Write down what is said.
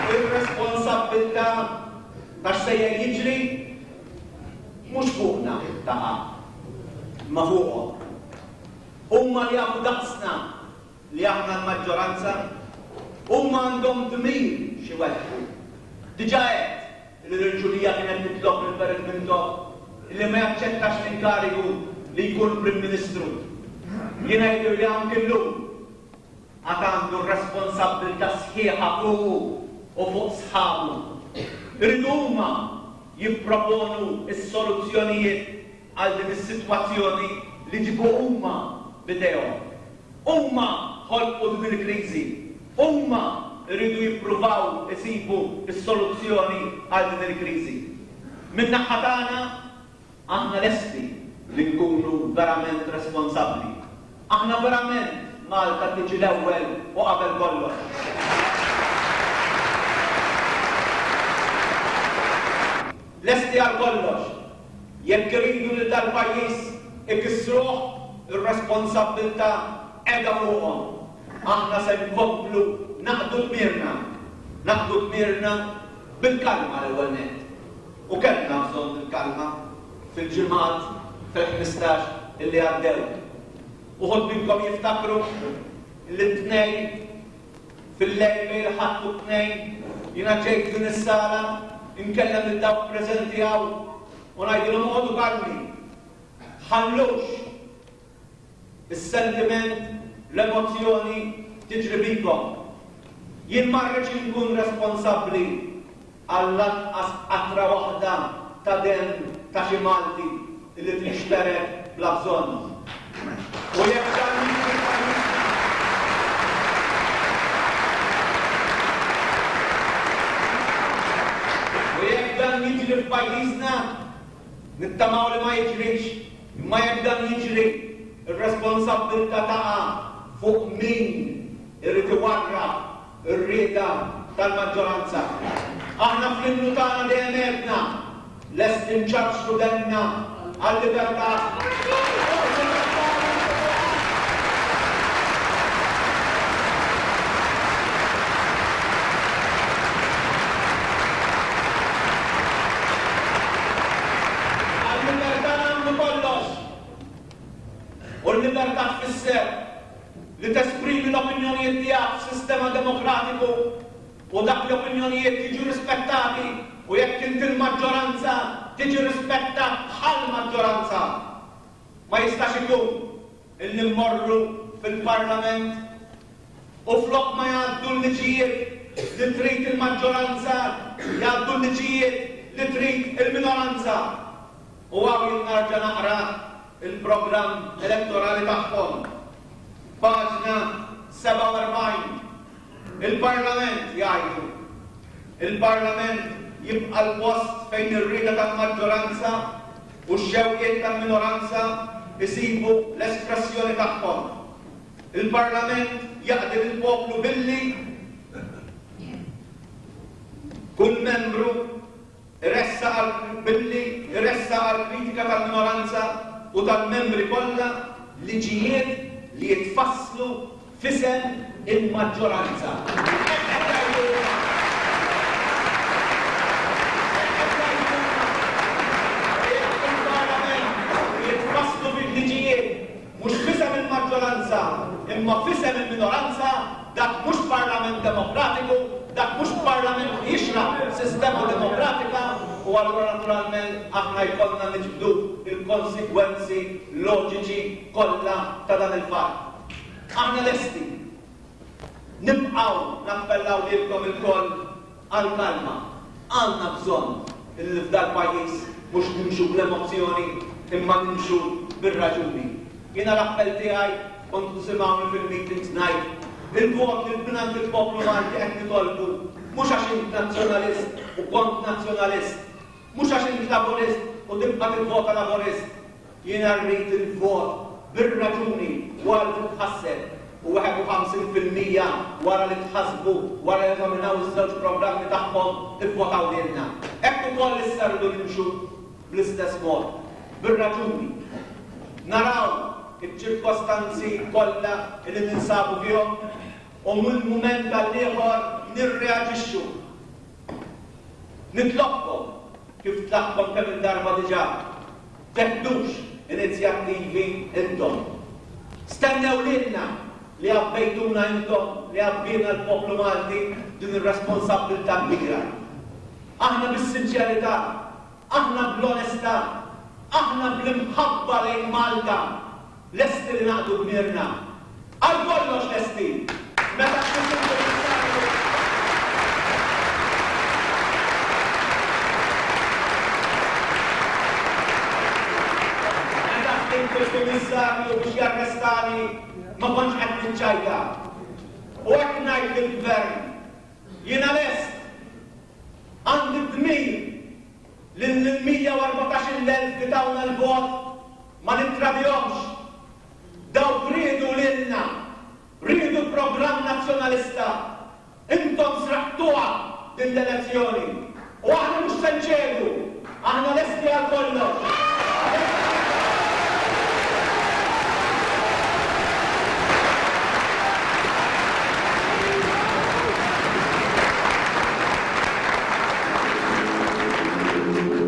Ir-responsabbiltà ta' x'sejjer jiġri mhux fuqna taqa', imma fuqhom. Huma jafu daqsna li aħna l-maġġoranza. Huma għandhom dmir x'iwettqu. Diġà għedt li l-irġulija kienet titlob lil Barrett Mintoff illi ma jaċċettax l-inkarigu li jkun Prim Ministru. Jiena jidhirli anki llum għad għandu r-responsabbiltà sħiħa fuqu u fuq sħabu. Irid huma jipproponu s-soluzzjonijiet għal din is-sitwazzjoni li ġibu huma b'idejhom. Huma ħolqu din il-kriżi. Huma jridu jippruvaw isibu s-soluzzjoni għal din il-kriżi. Min-naħa tagħna, Aħna lesti li nkunu verament responsabbli. Aħna verament Malta tiġi l-ewwel u qabel kollox. Lesti għal kollox. Jekk iridu lil dal-pajjiż ikissruh, ir-responsabbiltà qiegħda fuqhom. Aħna se nkomplu naqdu dmirna. Naqdu dmirna bil-kalma l-ewwel nett. U kellna bżonn il-kalma fil-ġimgħat, fil-ħmistax li għaddew. Uħud minnkom jiftakru li t-Tnejn fil-lejl bejn il-Ħadd u t-Tnejn jiena ġejt f'din is-sala inkellem lil dawk preżenti hawn u ngħidilhom oqogħdu kalmi. Ħallux Is-sentiment, l-emozzjoni tiġri bikom. Jien ma rridx inkun responsabbli għal lanqas qatra waħda ta' demm ta' xi Malti li tinxtered bla bżonn. U jekk dan jiġri f'pajjiżna, u jekk dan jiġri f'pajjiżna, nittamaw li ma jiġrix Imma jekk dan jiġri, ir-responsabbiltà taqa' fuq min irid iwarrab ir-rieda tal-maġġoranza. Aħna fl-Innu tagħna dejjem għedna, Lesti nċarċru demmna għal-libertà. Għal-libertà nagħmlu kollox! U l-libertà tfisser li tesprimi l-opinjonijiet tiegħek f'sistema demokratiku u dak l-opinjonijiet jiġu rispettati u jekk inti l-maġġoranza tiġi rispettat bħall-maġġoranza. Ma jistax ikun. Illi mmorru fil-Parlament u flok ma jgħaddu l-liġijiet li trid il-maġġoranza, jgħaddu l-liġijiet li trid il-minoranza. U hawn jien narġa' naqra l-programm elettorali tagħhom, paġna 47. Il-Parlament, jgħidu, il-Parlament jibqa' l-post fejn ir-rieda tal-maġġoranza, u x-xewqiet tal-minoranza jsibu l-espressjoni tagħhom. Il-Parlament jaqdi lill-poplu billi kull membru jressaq għal billi jressaq għall-kritika tal-minoranza u tal-membri kollha liġijiet li jitfasslu f'isem il-maġġoranza. Hekk qed jgħidu huma. Hekk qed jgħidu huma. Jekk il-Parlament irid ifasslu bil-liġijiet mhux f'isem il-maġġoranza imma f'isem il-minoranza, dak mhux Parlament demokratiku, dak mhux Parlament li jixraq sistema demokratika u allura naturalment aħna jkollna niġbdu l-konsegwenzi loġiċi kollha ta' dan il-fatt. Aħna lesti. Nibqgħu nappellaw lilkom ilkoll għall-kalma. Għandna bżonn li f'dal pajjiż mhux nimxu bl-emozzjoni imma nimxu bir-raġuni. Jiena l-appell tiegħi kont tisimgħuni fil-meetings ngħid, il-vot li mingħand il-poplu Malti qed nitolbu mhux għax int Nazzjonalist u kont Nazzjonalist, mhux għax int Laburist u tibqa' tivvota Laburist, Jiena rrid il-vot bir-raġuni wara li titħasseb u 51 fil-mija wara li tħasbu wara li eżaminaw iż-żewġ programmi tagħhom ivvotaw lilna. Hekk ukoll issa rridu nimxu bl-istess mod, bir-raġuni. Naraw iċ-ċirkostanzi kollha li ninsabu fihom u minn mument għall-ieħor nirreaġixxu. Nitlobkom, kif tlabtkom kemm-il darba diġà, Teħdux inizjattivi intom. Stennew lilna li għabbejtuna intom li għabbiena l-poplu Malti din ir-responsabbiltà kbira. Aħna bis-sinċerità, aħna bl-onestà, aħna bl-imħabba lejn Malta, Lesti li naqdu dmirna? Għal kollox lesti! Meta tkun sib Kummissarju Meta ħdimt fil-Kummissarju biex jarrestani ma kontx qed niċċajta. U hekk ngħid lill-Gvern, jiena lest! Għandi d-dmir li lill-114,000 li tawna l-vot, Ma nittradihomx. Dawk riedu lilna. Riedu l-programm Nazzjonalista. Intom sraqtuha din l-elezzjoni. U aħna mhux se nċedu. Aħna lesti għal kollox.